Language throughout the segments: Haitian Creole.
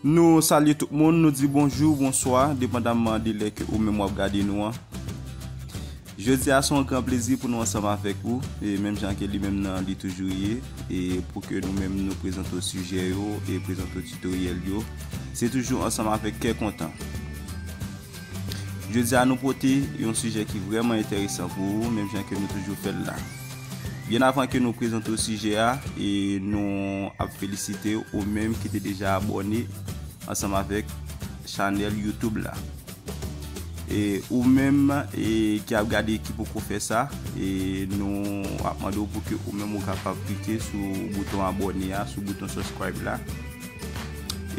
Nou salye tout moun, nou di bonjou, bonswa, depandamman de lè ke ou menm wap gade nou an. Jodi a se yon gran plezi pou nou ansanm avèk ou, e menm jan ke li menm nan li toujou ye, e pou ke nou menm nou prezante w sijè yo, e prezante w titoryèl yo, se toujou ansanm avèk kè kontan. Jodi a nou pote yon sijè ki vrèman enteresan pou ou menm jan ke nou toujou fèl la. Byen avan ke nou prezante w sijè a e nou ap felisite ou menm ki te deja abòne ansanm avèk chanèl youtube la. E ou menm e ki ap gade ki poko fè sa e nou ap mande w pou ke ou menm ou kapab klike sou bouton abòne a sou bouton subscribe la.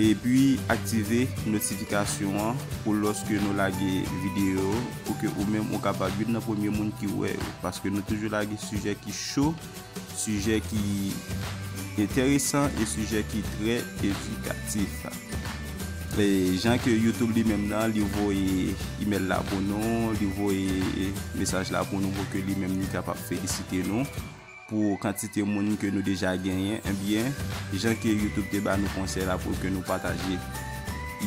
Epi aktive notifikasyon an pou lòske nou lage videyo yo pou ke ou menm ou kapab youn nan premye moun ki wè yo paske nou toujou lage sijè ki cho, sijè ki enteresan e sijè ki trè edikatif. E jan ke YouTube li menm nan li voye email la pou nou, li voye mesaj la pou nou pou ke li menm li kapab felisite nou. Pou kantite moun ke nou deja genyen, ebyen, jan ke YouTube te ba nou konsèy la pou ke nou pataje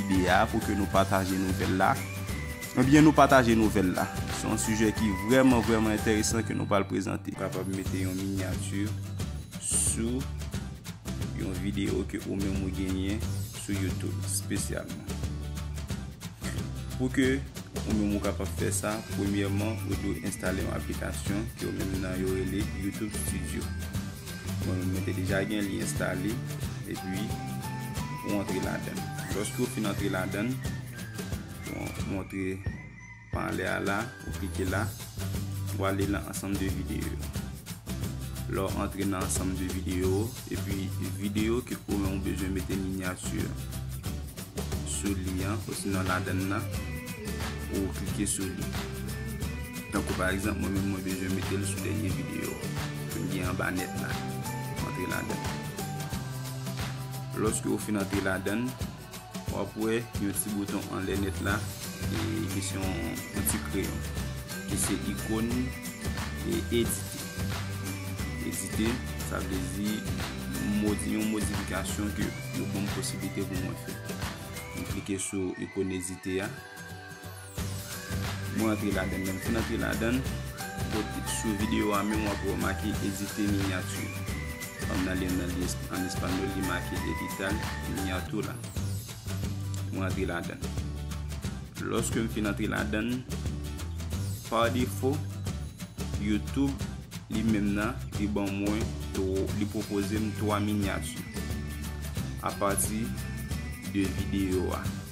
ide a, pou ke nou pataje nouvèl la, ebyen nou pataje nouvèl la. Se yon sijè ki vrèman vrèman entèresan ke nou pral prezante. Ou kapab mete yon miniature sou yon video ke ou menm ou genyen. Sou YouTube spesyalman. Pou ke ou menm ou kapab fè sa, premyèman ou dwe enstale yon aplikasyon ke yo menm nan yo rele YouTube Studio. Mwen menm mwen te deja gen li enstale epi ou antre ladan. Lòske ou fin antre ladan, ou antre Pa ale a la, ou klike la, ou ale nan ansanm de videyo yo. Lè w antre nan ansanm de videyo ou, epi videyo ke ou menm ou bezwen mete minyati an sou li an, osinon ladann nan, ou klike sou li. Tankou pa egzanp, mwen menm mwen bezwen mete l sou dènye videyo ke m gen anba nèt la. Antre ladann. Lòske ou fin antre ladann. Wap wè yon ti bouton anlè nèt la ki se yon ti kreyon ki se ikon edite. Edite sa vle di yon modifikasyon ke yo banm posiblite pou mwen fè. M klike sou ikon edite a. Mwen antre ladann lèm fin antre ladann sou video a menm wap wè yo make edite minyati fanm nan li ann espanyòl li make editar miniatura mwen antre ladann lòske m fin antre ladann pa defo youtube li menm nan li ban mwen li pwopoze m 3 minyati apati de video a.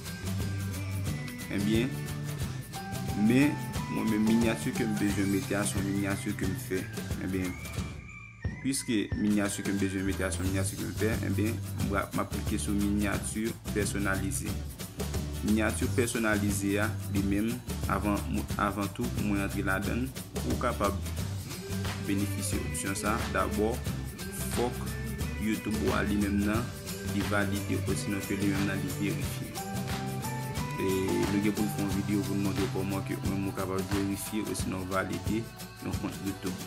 Ebyen, men, mwen men minyati ke m bezwen mete a son minyati ke m fè. Ebyen, pwiske minyati ke m bezwen mete a son minyati ke m fè, ebyen, m ap klike sou minyati pèsonalize. Minyati pèsonalize a, li menm, avan tou pou mwen antre la dan, pou w kapab benefisye opsyon sa, dabò, fòk YouTube ou a li menm nan. li valide osinon ke li menm nan li verifye. E nou gen pou nou fè yon video pou nou montre kòman ke ou menm ou kapab verifye osinon valide yon kont YouTube,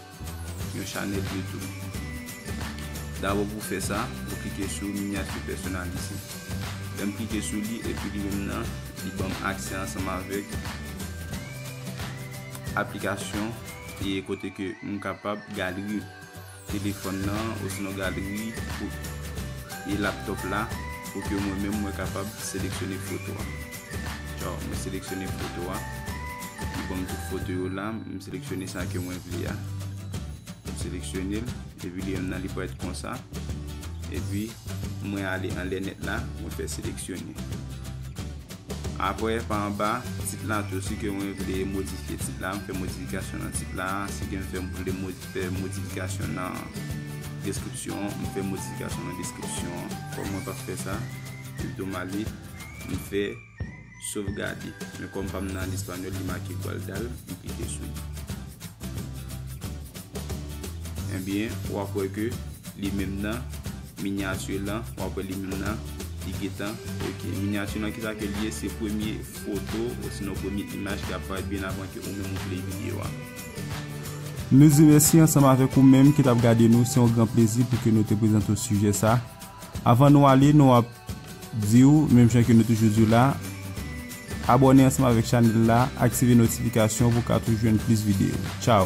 yon chanèl YouTube. Dabò pou fè sa, ou klike sou minyati pèsonalize. Lè m klike sou li, epi li menm nan, li ban m aksè ansanm avèk aplikasyon e kote ke m kapab galri. telefòn nan osnon galeri foto e laptop la pou ke mwen menm mwen kapab seleksyone foto a tjaw mwen seleksyone foto a li banm tout foto yo la m seleksyone sa ke mwen vle a m seleksyone l epi li menm nan li paret konsa epi mwen ale anlè nèt la mwen fè seleksyone apre pa anba tit la tou si ke mwen vle modifye tit la m fè modifikasyon nan tit la si ke m fè m vle modifye. Fè modifikasyon nan deskripsyon an. M fè modifikasyon nan deskripsyon an. Kòm mwen pa fè sa, pito m ale, m fè sovgade. Men kòm pa m nan lespanyòl, li make Gualdal, m klike sou li. Ebyen, w ap wè ke li menm nan minyati lan, w ap wè li menm nan, li gen tan ok. Minyati lan ki sa ke li ye? Se premye foto, osinon premye imaj ki ap parèt byen avan ke ou menm ou pleye videyo a. Nou di mèsi ansanm avèk ou menm ki tap gade nou se yon gran plezi pou ke nou te prezante w sijè sa avan nou ale nou ap di w menm jan ke nou toujou di w la abòne ansanm avèk chanèl la aktive notifikasyon pou w ka toujou jwenn plis videyo tchaw.